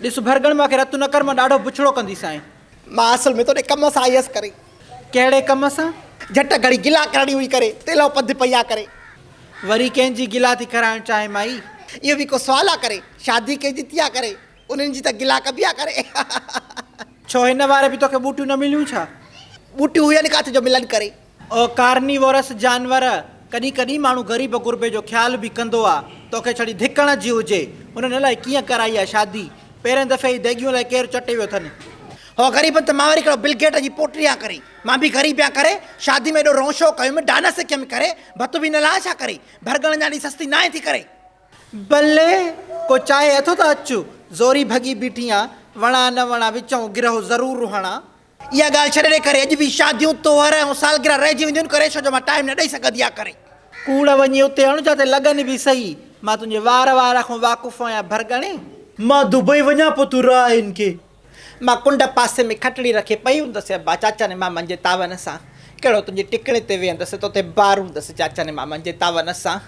ڏس ڀرڳڻ مان کي رتو نه ڪر مان ڏاڍو بڇڙو ڪندي سائين. مان اصل ۾ توڏي ڪم سان آيس ڪري. ڪهڙي ڪم سان؟ جهٽ گهڙي گلا ڪرڻي هئي ڪري تيلهو پنڌ پئي آ ڪري. وري ڪنهن جي گلا ٿي ڪرائڻ چاهين مائي. اهو به ڪو سوال آ ڪري. شادي ڪنهن جي ٿي آ ڪري انهن جي ته گلا ڪبي آ ڪري. ڇو هن واري به توکي ٻوٽيون نه مليون ڇا؟ ٻوٽيون هين ڪاٿ جو ملن ڪري. او ڪارنيوورس جانور، ڪڏهن ڪڏهن ماڻهو غريب غربي جو خيال به ڪندو آ، توکي ڇڙي ڌڪ هڻڻ جي هجي، انهن الائي ڪيئن ڪرائي آ شادي، پهرين دفعي ئي ديڳيون الائي ڪير چٽي ويو اٿن. هو غريبن تي ماوري ڪهڙو بل گيٽ جي پوٽي آ ڪري، مان به غريب آ ڪري شادي ۾ ايڏو رونشو ڪيم، ڊانس سکيم ڪري، ڀت به نه لاهي ڇا ڪري، ڀرڳڻن جانئن سستي ناهي ٿي ڪري. بلي! ڪو چاهي اٿو ته اچ، زوري ڀڳي بيٺي آ، وڻان نه وڻان وچئون گرهو ضرور هڻان، اها ڳالهه ڇڏي ڏي ڪري اڄ به شاديون تهوار ۽ سالگرهه رهجي وينديون ان ڪري ڇو جو مان ٽائيم نه ڏئي سگهندي آ ڪري. ڪوڙ وڃي اتي هڻ جاتي لڳن به سهي مان تنهنجي وار وار کان واقف آهيان ڀرڳڻي. مان دبئي وڃان پو تون رهه هن کي. مان ڪنڊ پاسي ۾ کٽڙي رکي پئي هوندس ابا چاچن مامن جي تعاون سان ڪهڙو تنهنجي ٽڪڻي تي ويهندس توتي بار هوندس چاچن مامن جي تعاون سان.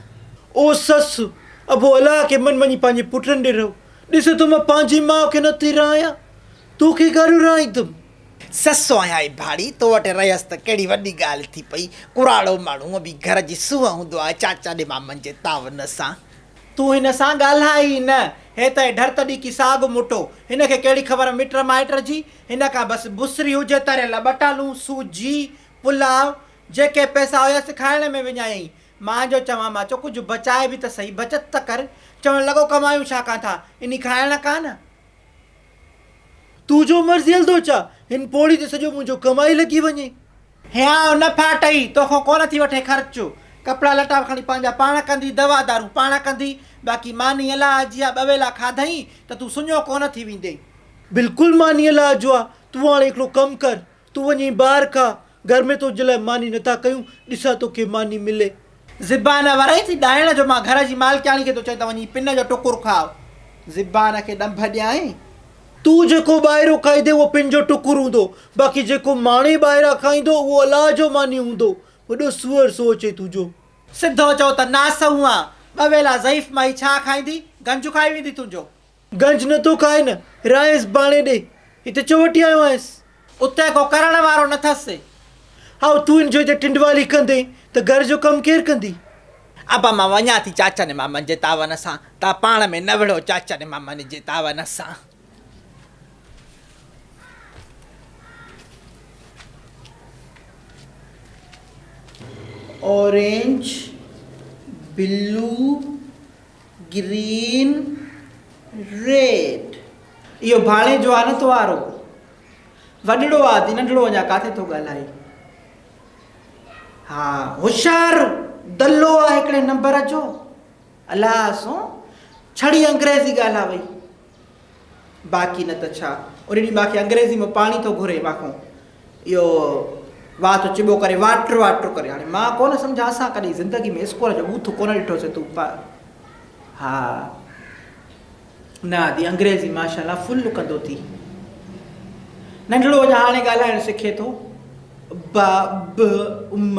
او سس ابو الاهه کي من وڃي پنهنجي پٽن ڏي رهه ڏسي ٿو مان پنهنجي ماء کي نه ٿي رهه آهيان. تو کي گهر رهائيندم. سس آهيان اي ڀاڙي، تو وٽ رهيس ته ڪهڙي وڏي ڳالهه ٿي پئي. ڪراڙو ماڻهو هونء به گهر جي سونهن هوندو آهي، چاچا ڏي مامن جي تعاون سان. تون هن سان ڳالهاء ئي نه. هي ته اهي ڍرت ڏي ڪي ساڳ مٽو. هن کي ڪهڙي خبر مٽ مائٽ جي. هن کان بس بسري هجي، تريل ٻٽالون، سوجي، پلاء، جيڪي پئسا هيس کائڻ ۾ وڃايائين. مان جو چوان مان چو ڪجهه بچائي به ته سهي، بچت ته ڪر. چوڻ لڳو ڪمايون ڇا ڪان ٿا، انهي کائڻ ڪان. تون جو مرضي هلندو چا، هن پوڙهي تي سڄو منهنجو ڪمائي لڳي وڃي. هيانء نه ڦاٽئي، توکان ڪونه ٿي وٺي خرچ. ڪپڙا لٽا به کڻي پنهنجا پاڻ ڪندي، دوا دارون پاڻ ڪندي، باقي ماني الاهه جي آ، ٻه ويلا کاڌئين ته تون سڃو ڪونه ٿي ويندين. بلڪل ماني الاهه جو آ، تون هاڻي هڪڙو ڪم ڪر، تون وڃين ٻاهر کا، گهر ۾ تنهنجي لاء ماني نٿا ڪيون، ڏسان توکي ماني ملي. زبان ورئي ٿي ڏائڻ جو مان گهر جي مالڪياڻي کي ٿو چئين ته وڃين پن جو ٽڪر کاء، زبان کي ڏنڀ ڏيائين. تون جيڪو ٻاهريون کائيندين اهو پن جو ٽڪر هوندو، باقي جيڪو ماڻي ٻاهران کائيندو اهو الله جو ماني هوندو، وڏو سوئر سو اچئي تنهنجو. سڌو چئو ته ناسهون آ، ٻه ويلا ضعيف مائي ڇا کائيندي، گنج کائي ويندي تنهنجو. گنج نه ٿو کائي نه رائيس باڻي ڏي، هتي چوٽي آيو آهيس. اتي ڪو ڪرڻ وارو نه ٿس. هائو، تون ان جو هتي ٽنڊوالي ڪندين ته گهر جو ڪم ڪير ڪندي؟ ابا مان وڃان ٿي چاچن مامن جي تعاون سان، توهان پاڻ ۾ نه وڙهو چاچن مامن جي تعاون سان. Orange, blue, green red. اهو ڀاڻي جوانت وارو وڏڙو آ دي ننڍڙو اڃا ڪاٿي ٿو ڳالهائي ها هوشيار دلو آ هڪڙي نمبر جو الاهه سون ڇڙي انگريزي ڳالهاوئي. باقي نه ته ڇا؟ ان ڏينهن ماکي انگريزي ۾ پاڻي ٿو گهري ماکون اهو وات چبو ڪري واٽر واٽر ڪري هاڻي مان ڪونه سمجهان اسان ڪڏهن زندگي ۾ اسڪول جو بوٿ ڪونه ڏٺو سي تو پا ها نه آدي انگريزي ماشاءالله فل ڪندو ٿي ننڍڙو اڃا هاڻي ڳالهائڻ سکي ٿو با ب ام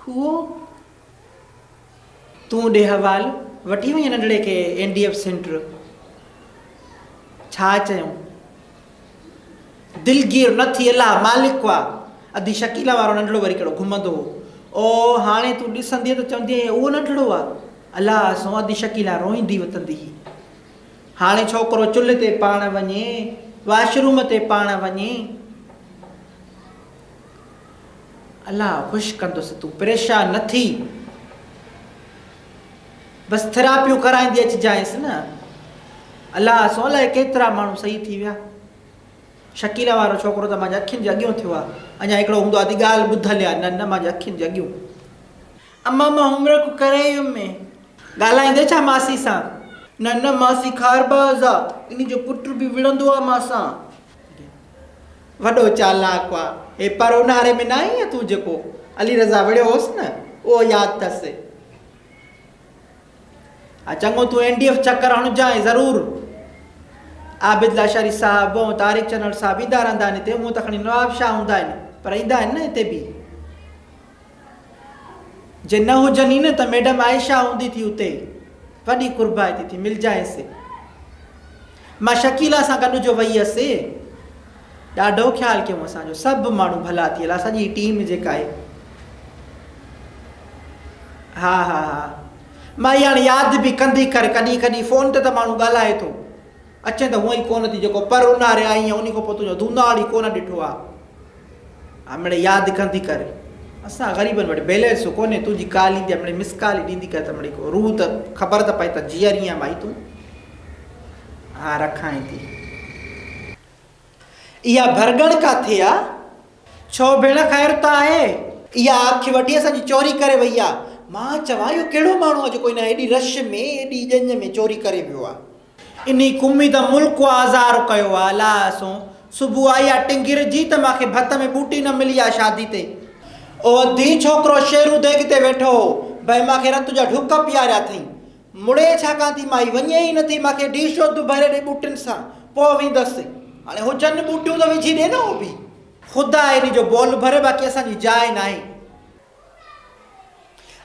کوهه تون ڏي حوال وٺي وڃ ننڍڙي کي اين ڊي ايف سينٽر ڇا چيون دلگير نه ٿي الله مالڪ وا ادي شڪيلا وارو ننڍڙو وري ڪهڙو گهمندو هو او هاڻي تون ڏسندي ته چوندي اهو ننڍڙو آ الله سو ادي شڪيلا روئندي وتندي هي هاڻي ڇوڪرو چلهه تي پاڻ وڃي واشروم تي پاڻ وڃي الله خوش ڪندس تون پريشان نه ٿي بس ٿراپيون ڪرائيندي اچجانس نه الله سو الائي ڪيترا ماڻهو صحيح ٿي ويا شڪيلا وارو ڇوڪرو ته مانجي اکين جي اڳيون ٿيو آ اڃا هڪڙو هوندو آ ته ڳالهه ٻڌل آ نه نه مانجي اکين جي اڳيون اما مان عمر ڪو ڪري يمي ڳالهائيندي ڇا ماسي سان نه نه ماسي خارباز آ انهي جو پٽ به وڙهندو آ مان سان. وڏو چالاڪ هئا هي پر اونهاري ۾ ناهي ها تون جيڪو علي رضا وڙهيو هوس نه اهو ياد اٿس ها چڱو تون اين ڊي ايف چڪر هڻجانء ضرور عابد لاشاري صاحب ۽ طارق چنوڙ صاحب ايندا رهندا آهن هتي هونء ته کڻي نواب شاهه هوندا آهن پر ايندا آهن نه هتي به جي نه هجن ئي نه ته ميڊم عائشه هوندي ٿي اتي ئي وڏي قربائتي ٿي ملجانئس. مان شڪيلا سان گڏ جو وئي هيس. ڏاڍو خيال ڪيائون اسان جو سڀ ماڻهو ڀلا ٿي هلا سڄي ٽيم جيڪا آهي. ها ها ها مائي هاڻي ياد به ڪندي ڪر ڪڏهن ڪڏهن فون تي ته ماڻهو ڳالهائي ٿو. اچين ته هونئن ئي ڪونه ٿي جيڪو پر اونهاري آئين ۽ انهي کان پوء تنهنجو ڌوناڙ ئي ڪونه ڏٺو آ. امڙي ياد ڪندي ڪر اسان غريبن وٽ بيلنس ڪونهي تنهنجي ڪال ايندي امڙي مس ڪال ئي ڏيندي ڪر ته امڙي ڪو روح ته خبر ته پئي ته جيئري آهين ڀائي تون. ها رکائين ٿي. اها ڀرڳڻ ڪاٿي آ؟ ڇو ڀيڻ خير ته آهي؟ اها اک وڍي اسان جي چوري ڪري وئي آ. مان چوان اهو ڪهڙو ماڻهو آ جيڪو هن هيڏي رش ۾ هيڏي ڄڃ ۾ چوري ڪري ويو آ. انهي قومي ته ملڪ آ آزار ڪيو آ الا اسون صبح آئي آ ٽنگير جي ته ماکي ڀت ۾ ٻوٽي نه ملي آ شادي تي اوهو ڌي ڇوڪرو شيرو ديڳ تي ويٺو هو ڀئي ماکي رت جا ڍڪ پياريا ٿئين مڙي ڇا ڪان ٿي مائي وڃي ئي نه ٿي ماکي ڊي شوڌ ڀري ڏي ٻوٽين سان پوء ويندس هاڻي هجن ٻوٽيون ته وجهي ڏي نه اوڀي. خدا انهي جو بول ڀري باقي اسان جي جاء ناهي.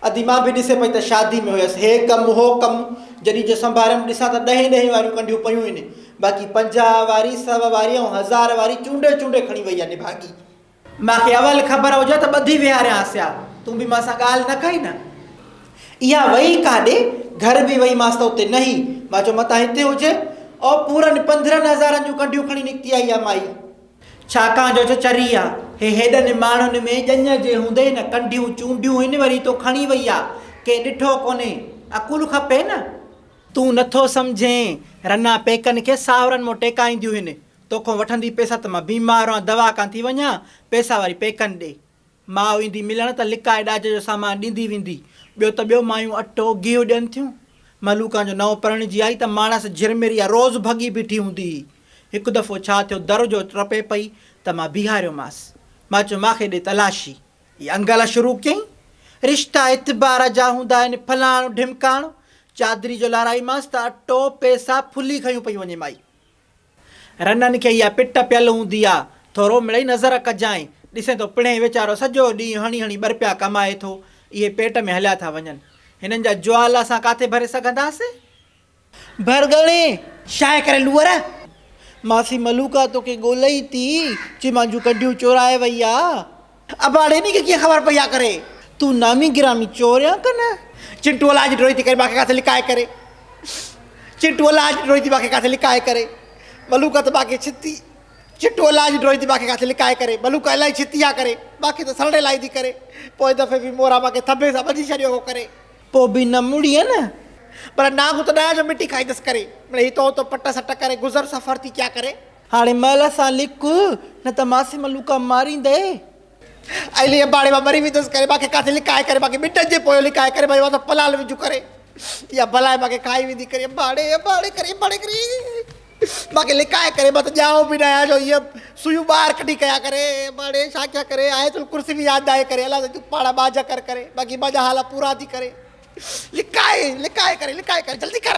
ادي مان به ڏسي پئي ته شادي ۾ هيس، هي ڪم هو ڪم، جڏهن جو سنڀاريم ڏسان ته ڏهين ڏهين واريون ڪنڍيون پيون هين، باقي پنجاهه واري، سو واري ۽ هزار واري چونڊي چونڊي کڻي وئي آ نڀاڳي. مان کي اول خبر هجي ها ته ٻڌي ويهاريانس ها، تون به مان سان ڳالهه نه ڪئين نه. اها وئي ڪاڏي؟ گهر به وئي مانس ته اتي نه هئي، مان چيو متان هتي هجي. او پورن پنڌرهن هزارن جون ڪنڍيون کڻي نڪتي آئي آ مائي. ڇاڪاڻ جو چري آ، هي هيڏن نماڻين ۾ ڄڃ جي هوندي نه ڪنڍيون چونڊيون هن وري تو کڻي وئي آ، ڪنهن ڏٺو ڪونهي، عقول کپي نه. تون نٿو سمجهين، رنا پيڪن کي ساهرن مون ٽيڪائينديون هن، توکون وٺندي پئسا ته مان بيمار آن دوا ڪان ٿي وڃان، پئسا وري پيڪن ڏي. ماء ايندي ملڻ ته لڪائي ڏاج جو سامان ڏيندي ويندي. ٻيو ته ٻيو مايون اٽو، گيهه ڏين ٿيون. ملوڪان جو نئون پرڻجي آئي ته ماڻس جھرمريا روز ڀڳي بيٺي هوندي هئي. هڪ دفعو ڇا ٿيو در جو ٽپي پئي ته مان بيهاريومانس. مان چيو ماکي ڏي تلاشي. هي انگل شروع ڪيائين. رشتا اعتبار جا هوندا آهن فلاڻو ڍمڪاڻو. چادري جو لارائيمانس ته اٽو، پيسا، ڦلي کنيون پيون وڃي مائي. رنن کي اها پٽ پيل هوندي آ، ٿورو مڙئي نظر ڪجانء، ڏسين ٿو پڻهين ويچارو سڄو ڏينهن هڻي هڻي ٻرپيا ڪمائي ٿو، اهي پيٽ ۾ هليا ٿا وڃن، هنن جا جوال اسان ڪاٿي ڀري سگهنداسين؟ ڀرڳڙي! شاهه ڪري لوئر! ماسي ملوڪا توکي ڳولئي ٿي، چيمان جون ڪنڊيون چورائي وئي آ. اباڙي ٻي کي ڪيئن خبر پئي آ ڪري. تون نامي گرامي چور يا ڪنه. چنٽو الاء جي ڊوڙي ٿي ڪري ٻاکي ڪاٿي لڪائي ڪري. چنٽو الاء جي ڊوڙي ٿي ٻاکي ڪاٿي لڪائي ڪري. ٻلو ڪا ته ٻاکي ڇتي. چنٽو الاء جي ڊوڙي ٿي ٻاکي ڪاٿي لڪائي ڪري. ٻلو ڪا الائي ڇتي آ ڪري. ٻاکي ته سرڙي لائي ٿي ڪري. پوء دفعي به مورا ٻاکي ٿنڀي سان ٻڌي ڇڏيو هو ڪري. پوء به نه مڙي نه. پر نانگ ته ڏهه جو مٽي کائيندس ڪري. مڙي هتو هتو پٽ سٽ ڪري گذر سفر ٿي ڪيا ڪري. هاڻي مئل سان لڪ، نه ته مان سين ملوڪا ماريندئي. علي اباڻي مان مري ويندس ڪري مانکي ڪاٿي لڪائي ڪري مانکي ٻٽن جي پويون لڪائي ڪري مانجي واسطي پلال وجهه ڪري يا بلائي مانکي کائي ويندي ڪري اباڻي اباڻي ڪري اباڻي ڪري مانکي لڪائي ڪري مان ته ڄائو به نه آهيان جو هيء سويون ٻاهر ڪڍي ڪيا ڪري اباڻي ڇا ڪيا ڪري آيت الڪرسي به ياد ناهي ڪري الله تون پاڻ ٻاجهه ڪر ڪري باقي مانجا حال پورا ٿي ڪري لڪائي لڪائي ڪري لڪائي ڪري جلدي ڪر.